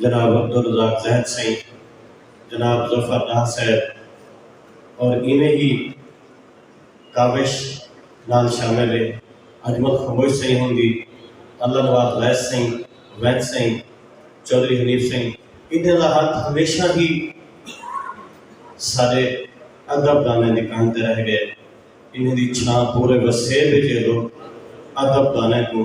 جناب عبدالرزاق زید سئیں، جناب ظفر ڈار صاحب اور ایویں ہی کاوش نال شامل ہے اجمل خموش سئیں ہوندی، اللہ نواز ویس سئیں، وینس سئیں، چوہدری حنیف سئیں ایندیاں دا ہتھ ہمیشہ ہی ساڈے ادب دانیں دی کندھ تے رہ گئے۔ انہاں دی چھاں پورے وسیب اچ اے لوک ادب دانیں کوں۔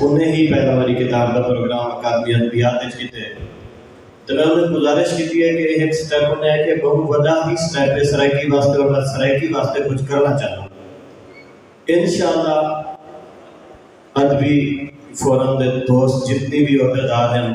انہیں ہی پہلا واری کتاب دا پروگرام اکادمی ادبیات اچ کیتے تے میں انہیں گزارش کیتی ہے کہ ایہ ہک سٹیپ ہوندے ہے کہ بہوں وڈا ہی سٹیپ ہے سرائیکی واسطے اور میں سرائیکی واسطے کچھ کرنا چاہنا انشاءاللہ ادبی فورم دے دوست جتنی بھی عہدیدار ہیں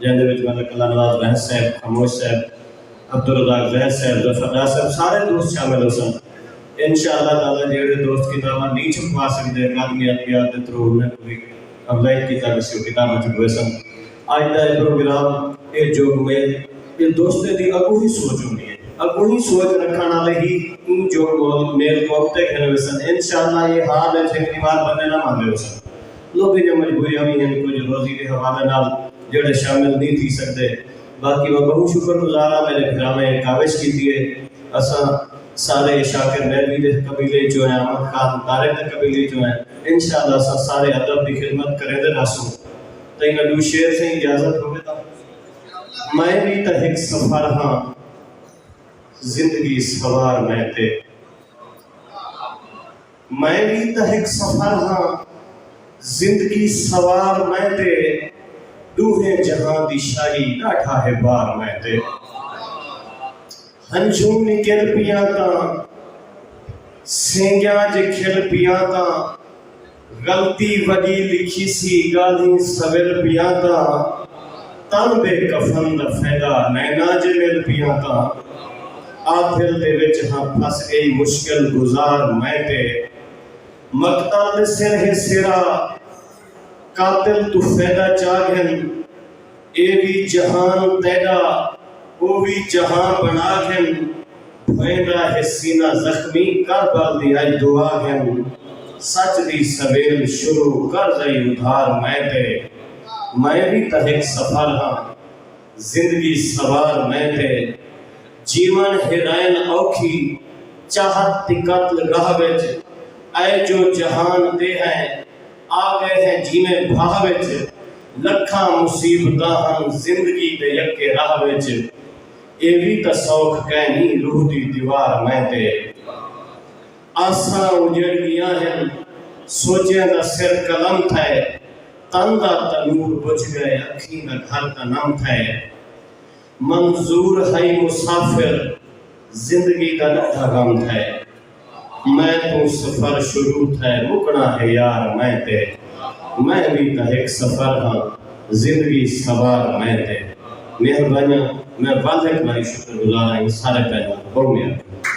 جیندے وچ ملک اللہ نواز بہس صاحب، خاموش صاحب، عبدالرزاق زید صاحب، ظفر ڈار صاحب سارے دوست شامل ہوسن۔ انشاء اللہ تعالی جیہڑے دوست کتاباں نی چھپوا سگدے اکادمی ادبیات دے تھرو انہاں کوں وی افزائش کیتا ویسی او کتاباں چھپویسن۔ اج دا اے پروگرام اے جو میل اے دوستیں دی اگونہی سوچ ہوندی اے۔ اگونہی سوچ رکھن آلے ہی ایں جو میل کوں اگتے گھن ویسن۔ انشاء اللہ اے حال اے جیکھنی وار بندے نہ ماندے ہوسن۔ لوکیں دیاں مجبوریاں وی ہن کجھ روزی دے حوالے نال جیڑھے شامل نی تھی سگدے باقی میں بہوں شکر گزار آں میڈے بھراویں کاوش کیتی ہے اساں سارے شاکر نیلوی دے قبیلے اچوں ہیں احمد خان طارق دے قبیلے اچوں ہیں انشاءاللہ اساں سارے ادب دی خدمت کریندے رہسوں تئیں میں ڈو شعر سئیں اجازت ہووے تاں میں وی تاں ہک سفر ہاں زندگی سوار میں تے۔ میں وی تاں ہک سفر ہاں زندگی سوار میں تے ݙوہیں جہاں دی شاعری ݙاڈھا ہے بار میں تے ہنجھوں نکل پیاں تاں سینگیاں جے کھل پیاں تاں غلطی وݙی لکھیسی ڳالھیں سول پیاں تاں تن دے کفن دا فیدا نینا جے مل پیاں تاں آدھل دے وچ ہاں پھس گئی مشکل گزار میں تے مقتل دے سر ہے سیرا قاتل توں فیدا چا گھن اے وی جہان تیڈا او وی جہاں بنا گھن۔ ویندا ہے سینہ زخمی کر بل دی اج دعا گھن سچ دی سویل شروع کر ذئی ادھار میں تے میں وی تاں ہک سفر ہاں زندگی سوار میں تے جیون ہیرائن اوکھی چاہت دی قتل گاہ وچ اے جو جہان تے ہیں آ گئے ہیں جیویں بھاہ وچ لکھاں مصیبتاں ہن زندگی دے یکے راہ وچ۔ اے وی تاں سوکھ کائنی روح دی دیوار میں تے آساں اجڑ گیاں ہن سوچیاں دا سر قلم تھئے تن دا تنور بجھ گئے اکھیں دا گھر تاں نم تھئے منظور ہئی مسافر زندگی دا ڈاڈھا غم تھئے۔ میں توں سفر شروع تھئے مکݨا ہے یار میں تے میں وی تاں ہک سفر ہاں زندگی سوار میں تے مہربانیاں میں واضح کمائی شکر گزار آئیں سارے پہلوان بہوں مہربانی۔